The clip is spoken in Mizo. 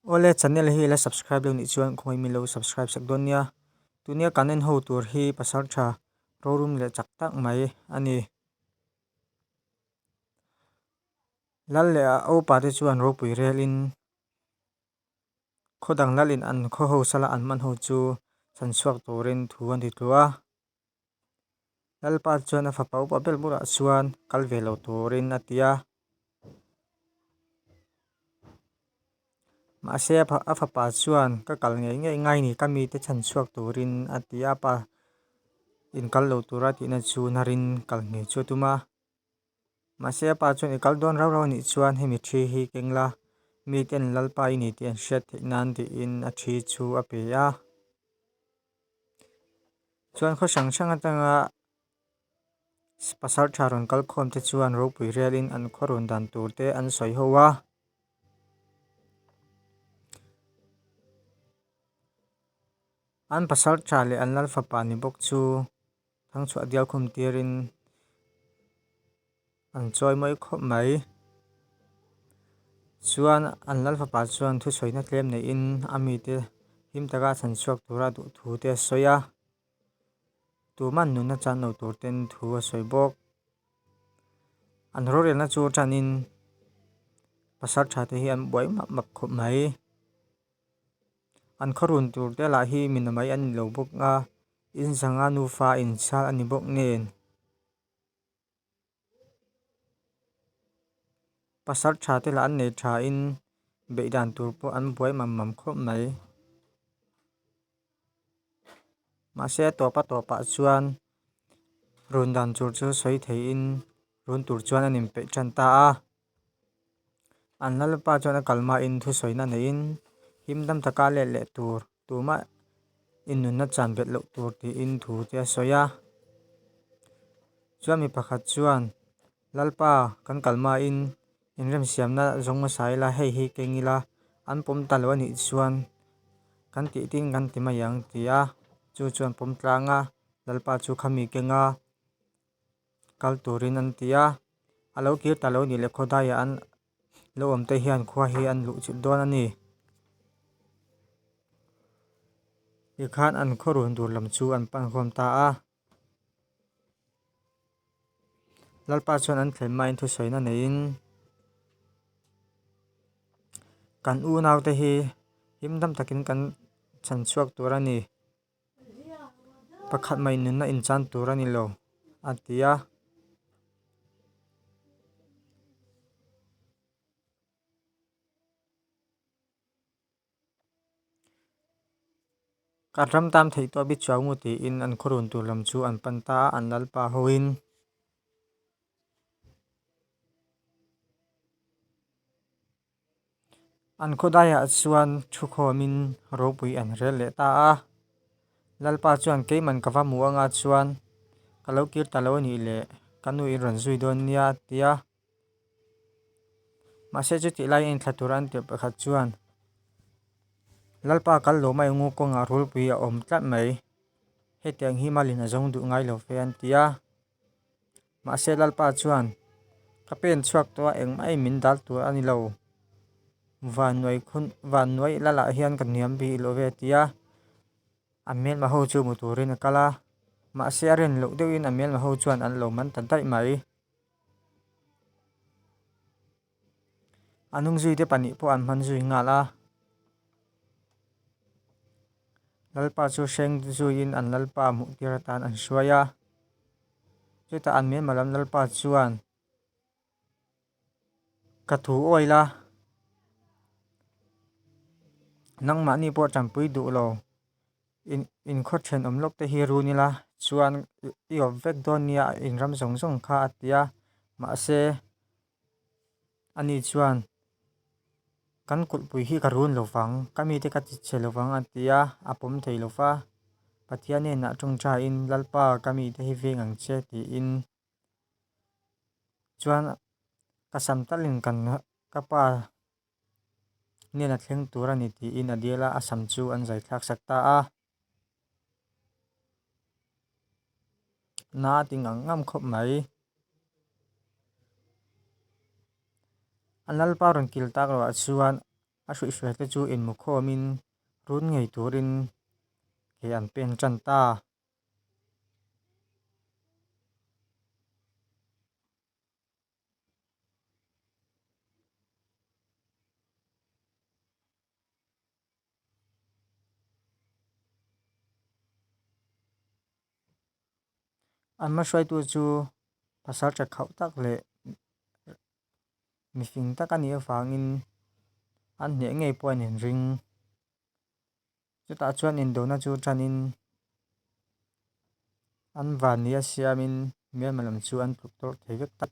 Aw le channel hi la subscribe lo nih chuan khawi min lo subscribe sak dawn nia. Tunia kan en ho tur hi pasal tha rorum leh chak tak mai a ni. Lal leh a opa te chuan ropui rel in khaw dang lal in an khaw ho sala an man ho chu chan chhuak turin thu an ti tlu a. Lalpa chuan a fapa upa ber bulah chuan kal ve lo turin a ti a. Mahse a pha a fapa chuan ka kal ngei ngei ngai ni ka mite chhan chhuak turin a ti a. Apa inkal lo tura tihna chu nariin kal hnu chu a tum a. Mahse, a pa chuan i kal dawn rau rau a nih chuan hemi ṭhi hi i keng la, mi ten Lalpa i ni tih an hriat theih nan tiin a ṭhi chu a pe a. Chuan khaw hrang hrang atanga pasal ṭha rawn kal khawm te chuan ropui rialin an khaw rawn dan tur te an sawi ho a. An pasal ṭha leh an Lalfapa ni bawk chu. Thangchhuah dialkhum tirin an chawi mawi khawp mai. Chuan an lal fapa chuan thusawiina tlem neihin a mite him taka chhan chhuak tura duh thu te a sawi a. Tuman nunna chan lo tur ten thu a sawi bawk. An rorelna chu tanin pasartha te hi an buai map map khawp mai. An khahrun tur te lah hi min mai a ni lo bawk a, inzanga nufa inchhial a ni bawk nen pasal tha te lah an nei tha in beih dan tur pawh an buai mam mam khawp mai. Mahse tawpa tawpah chuan run dan tur chu sawi thei in run tur chuan an inpeih tan ta a. An lal pa chuan a kal mah in thusawina a nei in him tam taka let leh tur, tumah innunna chanbelh loh tur tiin thu te a sawi a. Chuan mi pakhat chuan, Lal pa, kan kal mah in inremsiamna zawng hmasa ila, hei hi keng ila, an pawm ta loh a nih chuan kan tih tin kan ti mai ang, ti a. Chu chuan pawm tlanga lal pa chu khami kenga kal turin an ti a, a lo kir ta lo nih leh khawdaia an lo awm te hian khua hi an luh chilh dawn a ni. Khi khan an khawruh dur lam chu an pan huam ta a. Lalpa chuan an thleng maiin thusawina neiin, Kan unaute hi him dam takin kan chhan chhuak tur a ni. pakhat mai nunna inchan tur a ni lo a ti a. Ka ram tan theih tawh a bichua ngu tiin an khaw run tur lam chu an pan ta a an lalpa ho in. An khawdaiah chuan thu khawmin ropui an rel leh ta a, Lalpa chuan keiman ka va hmu anga chuan ka lo kir ta lo a nih leh, ka nu in rawn zui dawn nia a tia. Mahse chutih lai en thla tur an tirh pakhat chuan Lalpa kal lo mai ngu kawngah ropui a awm tlat mai, hetiang hi malin a zawng duh ngai lo fe an tia. Mahse Lalpa chuan, Ka pen chhuak tawh a, engmah min dal tur a ni lo. Vannuai khun, Vannuai Lal ah hian ka hniam bih lo ve tia a hmelma ho chu hmu turin a kal a. Mahse a ren loh deuhin a hmelma ho chuan an lo man ta daih mai. A hnung zui te pahnih pawh an hman zui nghal a. Lalpa chu hreng zuiin an lalpa a hmuh tir atan an hruai a. Chutah an mema lam lalpa chuan ka thu oil a, nangmah ni pawh tanpui duh lo, inkhaw then awm lawk te hi run ila chuan i awp vek dawn nia inram zawng zawng kha a tia mahse. a ni chuan kan kulhpui hi ka run lovang ka mite ka ti che lovang a ti a, a pawm thei lova Pathian nen ah tawngṭha in Lalpa ka mite hi veng ang che tiin chuan ka sam talh in kan ka pa. nen a thleng tur a ni tiin a dil a, a sam chu an zaithlak sat ta a. Hna a ti ngam ngam khawp mai. A Lalpa rawn kil tak loh ah chuan a hruihhruai te chu in mukhawm in run ngei tur in ke an pen tan ta. An hmahruaitu chu pasal ṭha khauh tak leh mihring tak a nih avangin an hneh ngei pawhin an in ring. Chutah chuan indona chu ṭanin an van ni a siamin Myanmar lam chu an tluk tawrh thei vek tak.